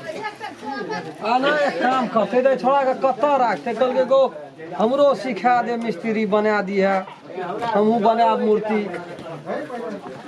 आ ना एक काम करते तो छोड़ा के कत रखते कल के गो हमरो सिखा दे मिस्त्री बना दी है हमहू बनाब मूर्ति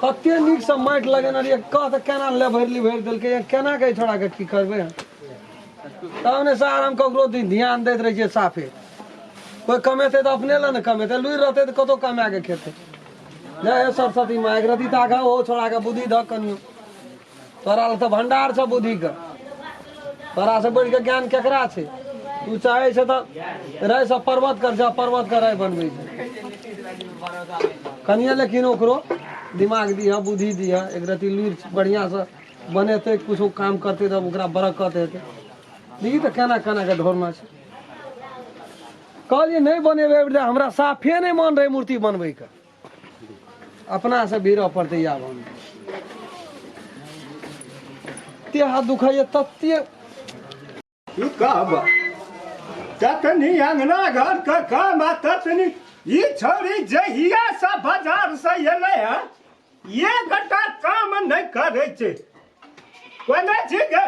कते नीक से माटि लगेने रहिए कह तऽ केना लेभरि लिभरि देलकै या केना के छोड़ा के की करबै तब ने सार हम ककरो दि- ध्यान दैत रहै छियै साफे कोइ कमेतै तऽ अपने लए ने कमेतै लुरि रहतै तऽ कतौ कमा के खेतै जय हे सरस्वती माँ एकरती तऽ आगाँ ओहो छोड़ा के बुद्धि धऽ कनियो तोरा लग तऽ भंडार छ बुद्धि के तोरा से बढ़ के ज्ञान केकरा छै तू चाहे छ तऽ रहै सब पर्वत कर छ पर्वत के राय बनबै छै कनिए लेकिन ओकरो दिमाग दिह बुद्धि दिह एक रती लुरि बढ़िया से बनेतै किछो काम करतै तब ओकरा बरकत हेतै देखी तऽ केना केना कऽ ढोरना छै कहलियै नहि बनेबै एहिबेर हमरा साफे नहि मन रहै मूर्ति बनबैके अपना से भीड़ पड़ते आब हम ते हाथ दुखाइए तत्ते तू कब ततनी अंगना घर के काम आ ततनी ई छोरी जहिया से बाजार से एले है ये गटा काम नहीं करे छे कोने छी गे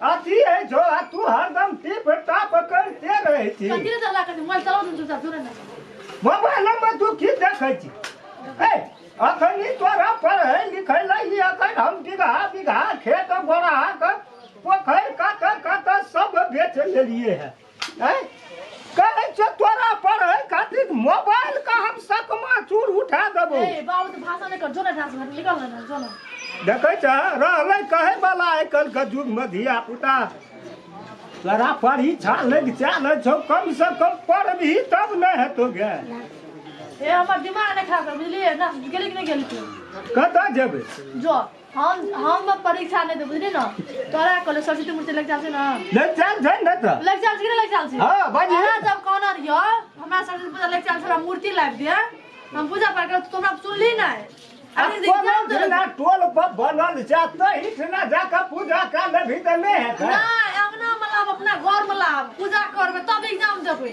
अथी है जो आ तू हरदम टिप टाप करते रहै छी कथी सब लागत मोबाइल चलाउ न चुपचाप जोरे न मोबाइल में तू की देखै छी ए अखनी तोरा पढ़ै लिखै लै ई अखन हम बीघा बीघा खेत बड़ा के पोखरि कात कात सब बेच लेलिए है है कहै छै तोरा पढ़ै खातिर मोबाइल का हम सकमा चूर उठा देबो ए बाबू तो भाषा नहीं कर जो ना डांस में निकल ना जो ना देखै छ रहलै कहै वाला आइ काल्हि के युग में धिया पुता तोरा परीक्षा लग चाल छौ कम से कम पढ़बही तब न हेतो गे ए हमर दिमाग नहीं खराब कर बुझलिए ना गेली कि नहीं गेली तू कतऽ जेबै जो हम हम अब परीक्षा नहीं दे बुझली ना तोरा कहले सरस्वती मूर्ति लग जाल छै ना ले चल छै न त लग जाल छै कि लग जाल छै हां बाजी हमरा जब कहना रहियो हमरा सरस्वती पूजा लग जाल छै मूर्ति लाइब दे हम पूजा पाठ कर तोरा सुनली नहीं अरे देखना तो ना टोल पर बनल जा त हिठ ना जा के पूजा कर ले भी त नहीं है ना अंगना में लाब अपना घर में लाब पूजा करबे तब एग्जाम देबे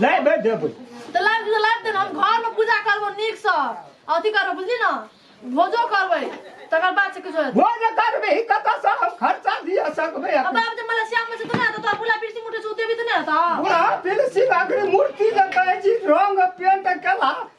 लाइ बे देबै तऽ लाइव दियो लाइव देना हम घर में पूजा करबो नीक से अथी करबो बुझली ना भोजो करबै तकर बाद से किछो हेतै भोज करबै ही कतऽ से हम खर्चा दिया सकबै अब अपन बाप जे मलेशिया में छै तऽ ना तऽ बुला पिरसी मुठे से उते भी तऽ ना हेतौ बुढ़ा पिलसी बाकरी मूर्ति जे कहै छी रंग पेंट केला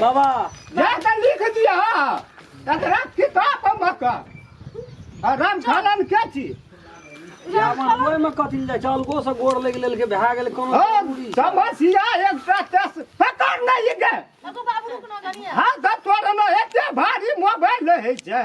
बाबा जा के लिख दिया एकरा किताब में का आ राम छालन के छी रावण ओहि में कथी ले जाइ छै अलगो से गोड़ लग लेल के भए गेल कोनो ओ जरूरी छै। समसिया एकटा तस पकड़ नहीं गए अगो बाबू रुक ना गनिया हाथ तोड़ में एते भारी मोबाइल है छै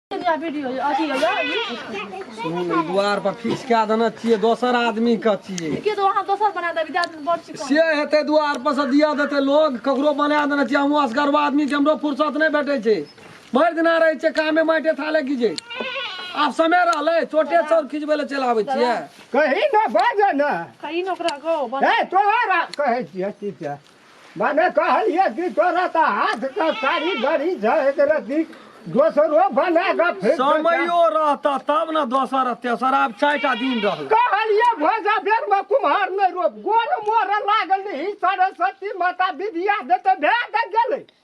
सुनू ने दुआर पर फिसका देने छियै दोसर आदमी के छियै के तो वहाँ दोसर बना देबी दादी बड़ छी से हेतै दुआर पर से दिया देतै लोग ककरो बना देने छियै हमहूँ असगरबा आदमी के हमरो फुर्सत नहि भेटै छै भरि दिना रहै छै कामे माटे थाले की छै आब समय रहलै चोटे चौर खिचबै लए चलि आबै छियै कही ना बाजे ना कहीं नौकरा गो बन ए तोहरा कहै छियै ठीक छै भने कहलिए कि तोरा त हाथ का कारीगरी झहक रहती दोसरो बना ग फिर समयो रहता तब न दोसर तेसर आब चारिटा दिन रहल कहलिए भोजा बेर में कुम्हार नहीं रोप गोर मोर लागल नहीं सरस्वती माता विद्या देते भेद गेले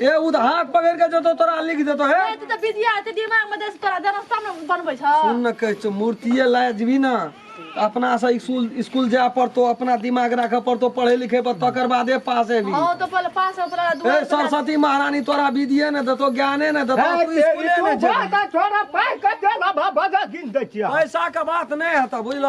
ए उ त हाथ पकड़ के जतो तोरा लिख देतो हे ए, तू तऽ बिदिया एते दिमाग मे देस तोरा जनस्ता मे बनबै छ सुन न कहै छौ मूर्तिये लाय जेबी न तऽ अपना से स्कूल स्कूल जाय पड़तो अपना दिमाग राखऽ पड़तो पढ़े लिखे पर तकर बादे पास हेबी हां तो पहिले पास हो पड़ा दू ए सरस्वती महारानी तोरा विधिये ने देतो ज्ञाने ने देतो तू स्कूले ने जेबी छोरा पाइ कते ला बाबा गिन दै छियै पैसा के बात नहीं है तो बुझल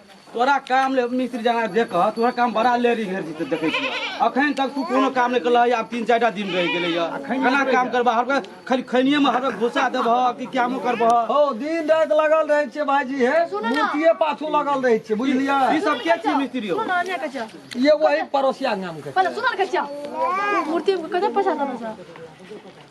तोरा काम ले मिस्त्री जाना देख तोरा काम बड़ा ले रही घर जीते देखे छी अखन तक तू कोनो काम नहीं कला अब तीन चार दिन रह गेले या केना काम करबा हर खाली खनिए में हर घुसा देब कि क्या मो करब हो दिन रात लगल रहे छे भाईजी हे मूर्तिए पाछू लगल रहे छे बुझलिया ई सब के छी मिस्त्री हो ये वही पड़ोसिया नाम के पहले सुनल के मूर्ति कते पैसा देबा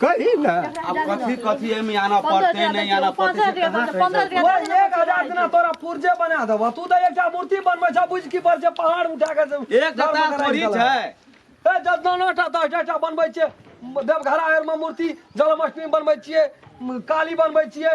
कही ना अब कथी कथी एमे आना पड़ते नहीं आना पड़ते से कहाँ कही पंद्रह सकते? ओए एक हजार दिना तोरा पुर्जे बना देबो तू तऽ एकटा मूर्ति बनबै छ बुझ की पर जे पहाड़ उठा के जे- एक घर जता मकान थोड़ी आबि गेलै। छै ए जतना नौटा दस टा बनबै छियै देवघरा आरमे मूर्ति जन्माष्टमी बनबै छियै म, काली बनबै छियै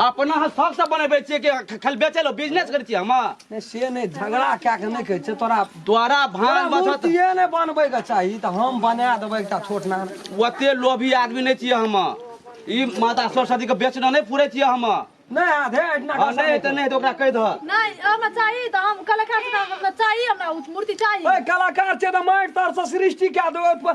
अपना हम शौक से बनेबे छियै कि खाली बेचे लो बिजनेस करे छियै हम नहि से नहि झगड़ा कए कऽ नहि कहै छै तोरा द्वारा भान तोरा बचत मूर्तिये नहि बनबैके चाही तऽ हम बना देबै एकटा छोट नान ओते लोभी आदमी नहि छियै हम ई माता सरस्वती के बेचना नहि पूरे छियै हम हँ नहि आधे अहिना कऽ नहि हेतै नहि हेतै ओकरा कहि दह नहि हमरा चाही तऽ हम कलाकार छी तऽ हमरा चाही हमरा उ मूर्ति चाही ओए कलाकार छै तऽ माटि तरसँ सृष्टि कए देबै ओहिपर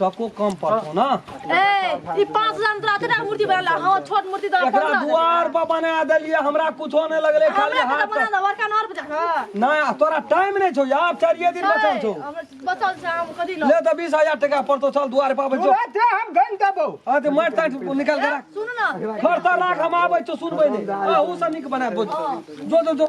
टको कम पड़तो ना ए ई 5000 में तोरा तेरा मूर्ति बना ला हां छोट मूर्ति तो एकरा अपन दुआर पर बना देलिए हमरा कुछो नहीं लगले खाली हमरा हाथ बना ला वर्का नर बजा के ना तोरा टाइम नहीं छौ यार चारिए दिन बचल छौ हमरा बचल छै हम कथी लो ले तो बीस हजार टका पड़तो चल दुआर पर आबै छौ तोरा ते हम गन देबो हाँ तो मारि ताटि निकाल के राख सुन ना खर्चा राख हम आबै छौ सुनबै नहीं अहू से नीक बना बोझ जो जो जो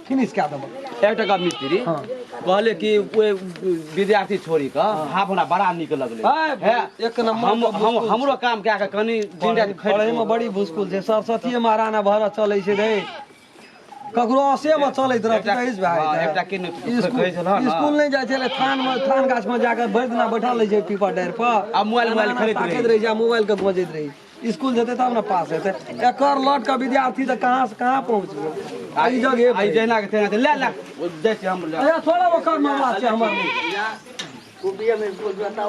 फिनिश कए देबो एक टका मिस्त्री हाँ। कहले कि ओए विद्यार्थी छोड़ी के हाँ। हाफ हमरा बड़ा निक लगले है, है एक नंबर हम, हम हमरो काम कए के कनी दिन रात खैर पढ़े में बड़ी मुश्किल छै सरस्वती महाराणा भर चलै छै रे ककरो असे में चलैत रहत कहिस भाय हाँ, एकटा के स्कूल स्कूल नहीं जाय छले थान में थान गाछ में जाके भरि दिना बैठल रहे छै पीपर डार पर आ मोबाइल मोबाइल खरीद रहे छै मोबाइल के बजैत रहे स्कूल जेतै तब ने पास हेतै एकर लट के विद्यार्थी तऽ कहाँ से कहाँ पहुँचबै आ ई जगह आइ जहिना के तहिना ले ले दै छी हम ले थोड़ा ओकर मामला छै हमर